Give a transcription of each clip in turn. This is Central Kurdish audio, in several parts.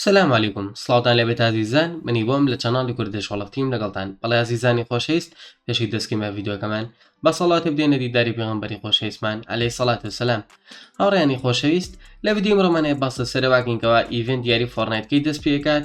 سلام علیکم سڵاوتان لە بێت ئازیزان منی بۆم لە چەناڵی کوردش وڵفتیم لەگەڵتان بەڵی ئازیزانی خۆشەویست پێشی دەستکیمە ڤیددیوەکەمان بە سەڵاتە بدێنە دیداری پێغمبەری خۆشەویستمان ئەلەی سەڵات و سلام هاوڕیانی خۆشەویست لە بدیم ڕۆمانەیە باسە سەرواکەینکەوە ئیڤنت دیاری فۆرنایتکەی دەست پێکات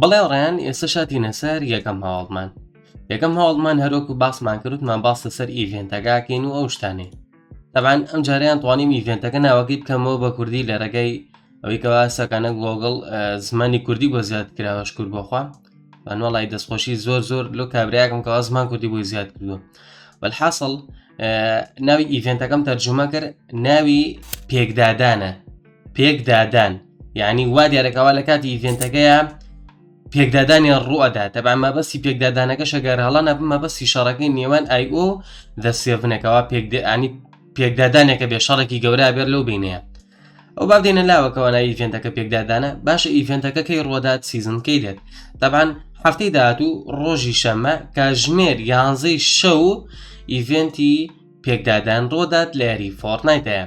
بڵێ ڕێن ئێستا شاتینە سەر یەکەم هەواڵمان یەکەم هەواڵمان هەرۆکو باسمان کردمان باس لەسەر ئیڤێنتەکەکەین و ئەو شتانێ تەبان ئەم جاریان توانیم ئیڤێنتەکە ناوەکەی بکەمەوە بە کوردی لە ڕێگەی ئەوەی کەوا سەکانە گۆگڵ زمانی کوردی بۆ زیاد کراوە شکر بۆخوا بەنوەڵی دەستخۆشی زۆر زۆر لۆ کابراەکەم کەوا زمان کوردی بۆی زیاد کردووە بەحاصل ناوی ئیڤێنتەکەم تەرجمە کرد ناوی پێکدادانە پێکدادان یعنی وا دیارەکەوا لە کاتی ئیڤێنتەکەیە پێکدادانی ڕوەدا تەبا مەبەستی پێکدادانەکە شەگەر هەڵانە مەبەستی شەڕەکەی نێوان ئای ئۆ دەسێڤنەکەەوە پێکدانی پێکدادانێکە بێ شەڕێکی گەورە بێر لەو بینەیە ئەو با دێنە لاوەکەوانە ئیڤێنتەکە پێکدادانە باشە ئیڤێنتەکە کەی ڕۆدات سیزن کەی دێت دەبان هەفتەی داهاتوو ڕۆژی شەمە کاژمێر یانزەی شەو ئیڤێنتی پێکدادان ڕۆدات لە یاری فۆرنایتەیە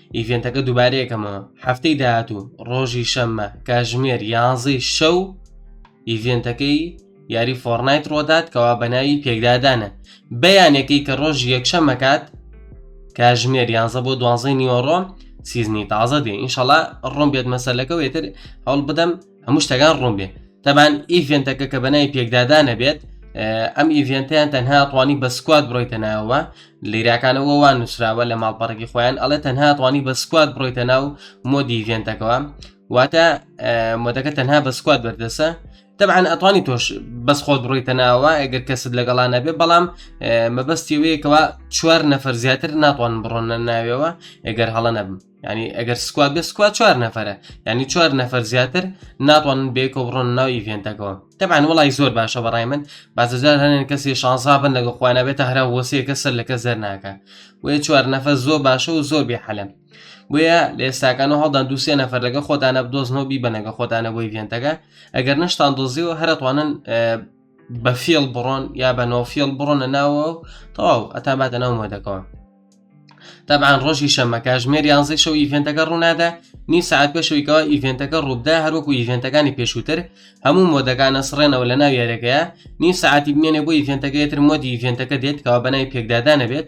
ئیڤێنتەکە دووبارەیەکەمەوە هەفتەی داهاتوو ڕۆژی شەممە کاژمێر یانزەی شەو ئیڤێنتەکەی یاری فۆرنایت ڕۆدات کەوا بەناوی پێکدادانە بەیانەکەی کە ڕۆژ یەکشەمەکات کاژمێر یانزە بۆ دوانزەی نیوەڕۆ سیزنی تازە دێ ئینشەڵا ڕۆم بێت مەسەلەکە وێتر هەڵ بدەم هەموو شتەکان ڕوون بێ تەبان ئیڤێنتەکە کە بەنای پێکدادانە بێت ئەم ئیڤێنتیان تەنها توانی بە سکوات بڕۆیتە ناوە لیراکانەوە وان نووسراوە لە ماڵپەڕێکی خۆیان ئەڵێ تەنها توانی بە سکوات بڕۆیتە ناو مۆدی ئیڤێنتەکەەوە واتە مۆدەکە تەنها بە سکوات بەردەسە تەبعاان ئەتوانی تۆش بەس خۆت بڕیتە ناوە ئەگەر کەست لەگەڵا نەبێ بەڵام مەبەستی وەیەکەوە چوار نەفەر زیاتر ناتوان بڕۆنە ناوێەوە ئەگەر هەڵە نەبم ینی ئەگەر سکوات بە سکوات چوار نەفرە ینی چوار نەفر زیاتر ناتوان بێکە و ڕۆن ناو ئیڤێنتەکەەوە تەبان وڵی زۆر باشە بەڕای من بازجار هەنێن کەسی شانسا بن لەگە خۆیانە بێتە هەرا وەسیەکە سەر لەکە زەر ناکە وێ چوار نەفە زۆر باشە و زۆر بێ حەلم بۆیە لە ئێستاکان و هەڵدان دووسێ نەفر لەگە خۆتانە بدۆزنەوە بیبەنەگە خۆتانە بۆی ڤێنتەکە ئەگەر نشتان دۆزیەوە هەرتوانن بە فێڵ بڕۆن یا بە نۆفیڵ بڕۆنە ناوە و تەواو ئەتان باتە ناو مۆدەکەەوە تابان ڕۆژی شەمە کاژمێر یانزەی شەو ئیڤێنتەکە ڕوونادا نی سعات پێشەوەیکەوە ئیڤێنتەکە ڕووبدا هەروەکو ئیڤێنتەکانی پێشووتر هەموو مۆدەکانە سڕێنەوە لە ناو یارەکەیە نی سعاتی بمێنێ بۆ ئیڤێنتەکەیتر مۆدی ئیڤێنتەکە دێت کەوا بەنای پێکدادانەبێت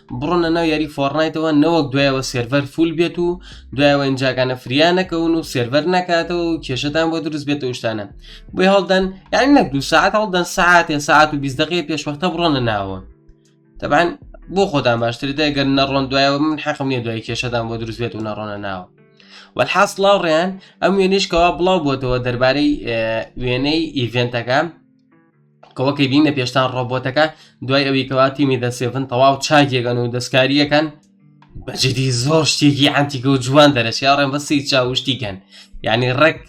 بڕۆنە ناو یاری فۆڕنایتەوە نەوەک دوایەوە سێرڤەر فول بێت و دوایەوە ئینجاکانە فریا نەکەون و سێرڤەر نکاتەوە و کێشتان بۆ دروست بێتە شتانە بۆی هەڵدەن یان نەک دو ساعت هەڵدەن ساعتێ ساعت و بیستدەقی پێشوەختە بڕۆنە ناوە تەبان بۆ خۆتان باشتر دەگەن نەڕۆن دوایەوە من حەقم نیە دوای کێشتان بۆ دروست بێت و نەڕۆنە ناوە وەحاس لاڕێن ئەم وێنیشکەوە بڵاو بۆتەوە دەربارەی وێنەی ئیڤێنتەکە کەوەکەی بینە پێشتان ڕۆبۆتەکە دوای ئەوی کەوا تیمی دەسێفن تەواو چاکێگەن و دەستکاریەکەن بەجدی زۆر شتێکی ئەتیکە و جوان دەرەشیا ڕێن بەسی چاوشتیکەن یعنی ڕێک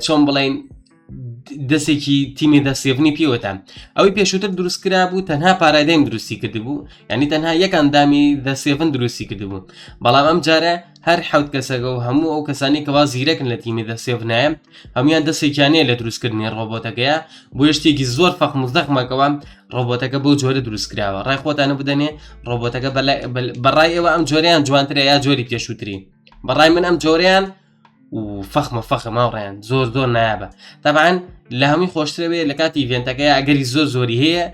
چۆن بڵین دەستێکی تیمی دەستێبنی پێوەتان ئەوەی پێشووتر دروست کرا بوو تەنها پارادایم دروستی کردبوو ینی تەنها یەکان دامی دەسێفن دروستی کردبوو بەڵام ئەم جارە هەر حوت کەسەکە و هەموو ئەو کەسانی کەوا زیرەکن لە تیمی دە سێڤنایە هەموان دەستێکیانەیە لە دروستکردنی ڕۆبۆتەکەیە بۆ شتێکی زۆر فەق مزدەخمەکەوە ڕۆبۆتەکە بەو جۆرە دروستکراوە ڕای خۆتانە بدەنێ ڕۆبۆتەکە بەڕای ئێوە ئەم جۆریان جوانترە یا جۆری پێشووترین بەڕای من ئەم جۆریان و فەخمە فەخە ماوڕێن زۆر زۆر نایابە تابان لە هەمووی خۆشترەوێ لە کاتی ڤێنتەکەی ئەگەری زۆر زۆری هەیە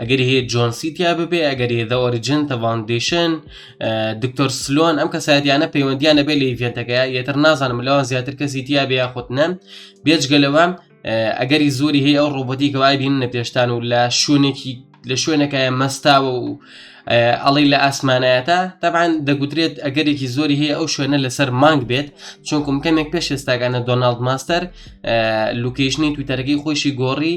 ئەگەری هەیە جۆنسی تیا ببێ ئەگەری دە ئۆریجن تە ڤاندیشن دکتۆر سلۆن ئەم کەسایەتیانە پەیوەندیان نەبێ لە ئیڤێنتەکە یەتر نازانم لەوان زیاتر کەسی تیا بێ یاخود نەن بێجگەلەوە ئەگەری زۆری هەیە ئەو ڕۆبەتی کەوای بین نە پێشتان و لە شوێنێکی لە شوێنەکەیان مەستاوە و ئەڵی لە ئاسمانایەتە تابان دەگوترێت ئەگەرێکی زۆری هەیە ئەو شوێنە لەسەر مانگ بێت چونکم کەمێک پێش ئێستاگانە دۆناالد ماستەر لوکیشنی تویتەرەکەی خۆشی گۆڕی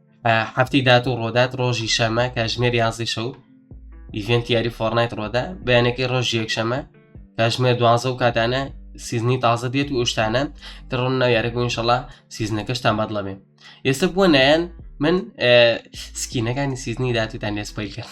هەفتی دات و ڕۆدات ڕۆژی شەمە کاژمێر یازی شەو ئیڤێنت یاری فۆرنایت ڕۆدا بەیانەکەی ڕۆژ یەکشەمە کاژمێر دوازە و کاتانە سیزنی تازە دێت و ئوشتانە دڕۆن ناو یارەکە انشەڵا سیزنەکەشتان بەدڵە بێ ئێستا بووە نایەن من سکینەکانی سیزنی داتوتان لێسپیل کرد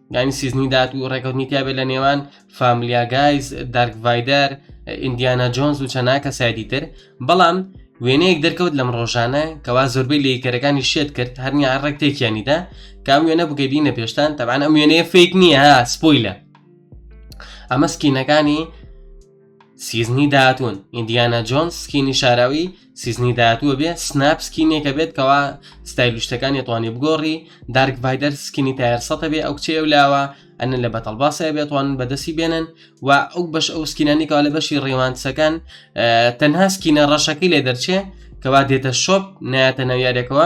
دانی سیزنی دات و ڕێکەوتنی تیاابێت لە نێوان فامیلیا گایز دارک ڤایدەر ئیندیانا جۆنز و چەنا کەسایدی تر بەڵام وێنەیەک دەرکەوت لەم ڕۆژانە کەوا زۆربەی لەیکەرەکانی شێت کرد هەرنیا ڕێک تێکیانیدا کام وێنە بگەبینە پێشتان تەبان ئەم وێنەیە فیک نییە سپۆیلە ئەمە سکینەکانی سیزنی داهاتون ئیندیانا جۆنس سکینی شاراوی سیزنی داهاتووە بێ سناپ سکینێکە بێت کەوا ستایل شتەکانی توانێ بگۆڕی دارک ڤایدەر سکینی تایار سەتە بێ ئەو کچەیە لاوە ئەنە لە بەتەڵ باسە بێتوان بەدەستی بێنن و ئەو بەش ئەو سکینانی کەوا لە بەشی ڕێوانسەکان تەنها سکینە ڕەشەکەی لێ دەرچێ کەوا دێتە شۆپ ناتە ناویارێکەوە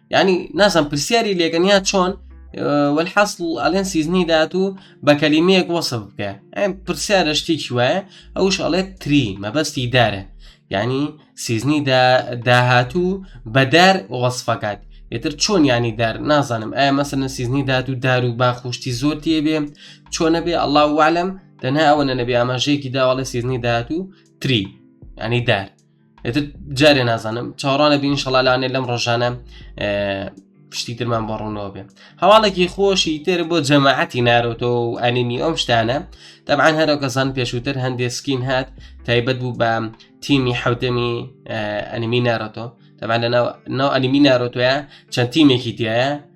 ینی نازم پرسیاری لێگەنیا چۆن والحاصل ئەلێن سیزنی دات و بە کەلیمەیەک وەسف بکە ئەم پرسیارە شتێکی وایە ئەوش ئەڵێت تری مەبەستی دارە ینی سیزنی داهاتوو بەدار وەسفەکات ئێتر چۆن ینی دار نازانم ئایا مەسەنە سیزنی دات و دار و باخشتی زۆر تێبێ چۆنە بێ ئەله والم تەنها ئەوە نەبێ ئاماژەیەکی داواڵە سیزنی داهاتوو تری ینی دار ئێتر جارێ نازانم چاڕانە بین شەڵالانێ لەم ڕۆژانە پشتی ترمان بە ڕوونەوە بێ هەواڵێکی خۆشی تر بۆ جەماعەتی نارۆتۆ و ئەنیمی ئەم شتانە دەبان هەرۆ کەسان پێشووتر هەندێ سکین هات تایبەت بوو بە تیمی حوتەمی ئەنیمی نارۆتۆ دەبان لە ناو ئەنیمی نارۆتۆە چەند تیمێکی تایە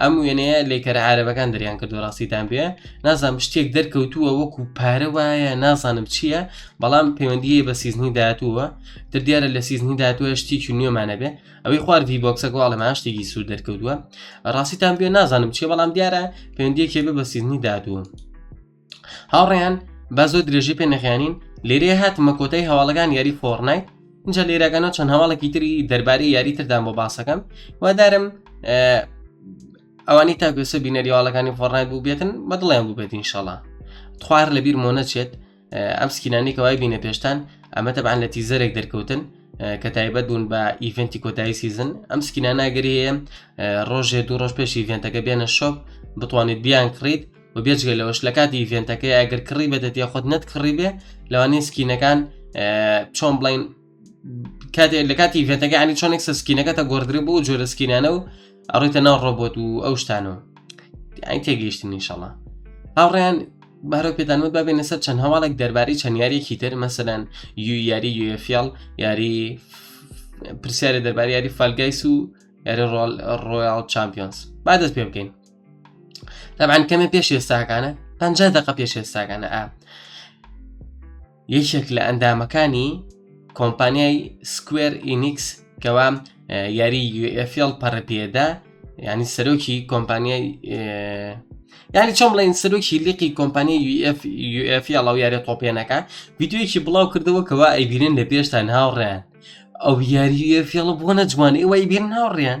ئەم وێنەیە لێکەرە عربەکان دەریان کە دۆڕاستیتان پێ نازانم شتێک دەرکەوتووە وەکو پارە وایە نازانم چییە بەڵام پەیوەندیە بە سیزنی داهاتووە تر دیارە لە سیزنی داهاتوە شتێکی نوێمانە بێ ئەوەی خواردی بۆکسەکە واڵەما شتێکی سوود دەرکەوتووە ڕاستیتان پێ نازانم چیە بەڵام دیارە پەیوەندیەکێ بە سیزنی داهاتووە هاوڕێیان با زۆر درێژی پێ نەخیانین لێرێ هاتمە کۆتای هەواڵەکان یاری فۆڕنایت اینجا لێراگەنە چەند هەواڵێکی تری دەربارەی یاری تردان بۆ باسەکەم وادارم ئەوانی تاگوسە بینەریواڵەکانی فۆڕنایت بوو بێتن بە دڵیان بوو بێت انشاءڵە خوار لە بیر مۆ نەچێت ئەم سکینانی کەوای بینە پێشتان ئەمە تەبان لە تیزەرێک دەرکەوتن کە تایبەت بوون بە ئیڤنتی کۆتایی سیزن ئەم سکیناناگەریە ڕۆژێ دوو ڕۆژ پێش ئیڤنتەکە بێنە شۆپ بتوانێت بیان کڕیت و بێجگە لەوەش لە کاتی ئیڤێنتەکەی ئەگەر کڕی بێتە تێ خۆت نەت کڕی بێ لەوانەیە سکینەکان چۆن بڵین کاتێ لە کاتی ئیڤێنتەکە عنی چۆنێک سەسکینەکە تا گۆردرێ بوو جۆرە سکینانە و ئەڕێتە ناو ڕۆبۆت و ئەو شتانەوە ئەین تێگەیشتن نیشەڵە هاوڕێیان بارە پێدانمە بابێنە سەر چەند هەواڵێک دەربارەی چەند یاریێکی تر مەسەدان یو یاری یوفیال یاری پرسیارە دەربارە یاری فالگایس و یاری ڕۆل ڕۆیال چمپیۆنس با دەست پێ بکەین تەبان کەمە پێش ئێستاکانە پ دقە پێش ئێستاکانە ئا یەکێک لە ئەندامەکانی کۆمپانیای سکوێر ئینیکس کەوا یاری UFL پەڕپێدا ینی سەرۆکی کۆمپانیای ینی چۆم بڵێن سەرۆکی لیقی کۆمپانی UFUF یاڵاو یارە تۆپێنەکە ویددیویەکی بڵاو کردەوە کەوا ئەیبیرن لە پێشتان هاوڕێن ئەو یاریە فێڵە بۆ نەجوانێ وای بیر ناوڕێن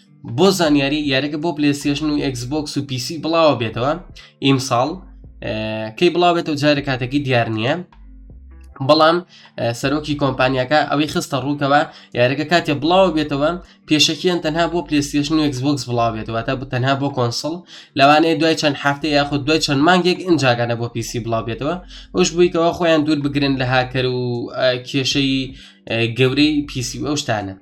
بۆ زانیاری یاریەکە بۆ پلسیشن و ئەکسبۆکس و پیسی بڵاوە بێتەوە ئیمساڵ کەی بڵاوێتەوە جارە کاتەکی دیار نییە بەڵام سەرۆکی کۆمپانیاکە ئەوەی خستە ڕووکەوە یارەکە کاتێ بڵاو بێتەوە پێشەکیان تەنها بۆ پلیستێشن و ئەکسبکس بڵاو بێتەوە تا تەنها بۆ کۆنسڵ لەوانەیە دوای چەند هەفتە یاخود دوای چەند مانگێک ئنجاگانە بۆ پیسی بڵاو بێتەوە ئەوش بوویکەوە خۆیان دوور بگرن لە هاکەر و کێشەی گەورەی پیسی ئەو شتانە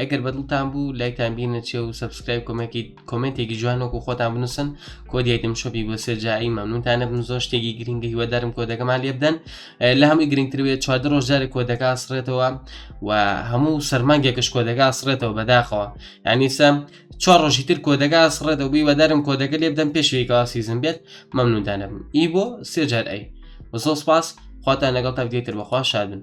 ئەگەر بەدڵتان بوو لایکتان بینە چێ و سبسکرایب کۆمەکی کۆمنتێکی جوان وەکو خۆتان بنووسن کۆدیتم شۆپی بۆ سێجایی مەمنونتانە بم زۆر شتێکی گرنگە هیوادارم کۆدەکەمان لێ بدەن لە هەمووی گرنگتر بێت چوادە ڕۆژداری کۆدەکە سڕێتەوە و هەموو سەرمانگێکش کۆدەکە سڕێتەوە بەداخەوە ینی سەم چوار ڕۆژی تر کۆدەکە سڕێتەوە بی وەدارم کۆدەکە لێ بدەم پێشێکا سیزم بێت مەمنونتانە بم ئی بۆ سێجار ئەی وەزۆ سپاس خواتان لەگەڵ تا دیتر بەخوا شادن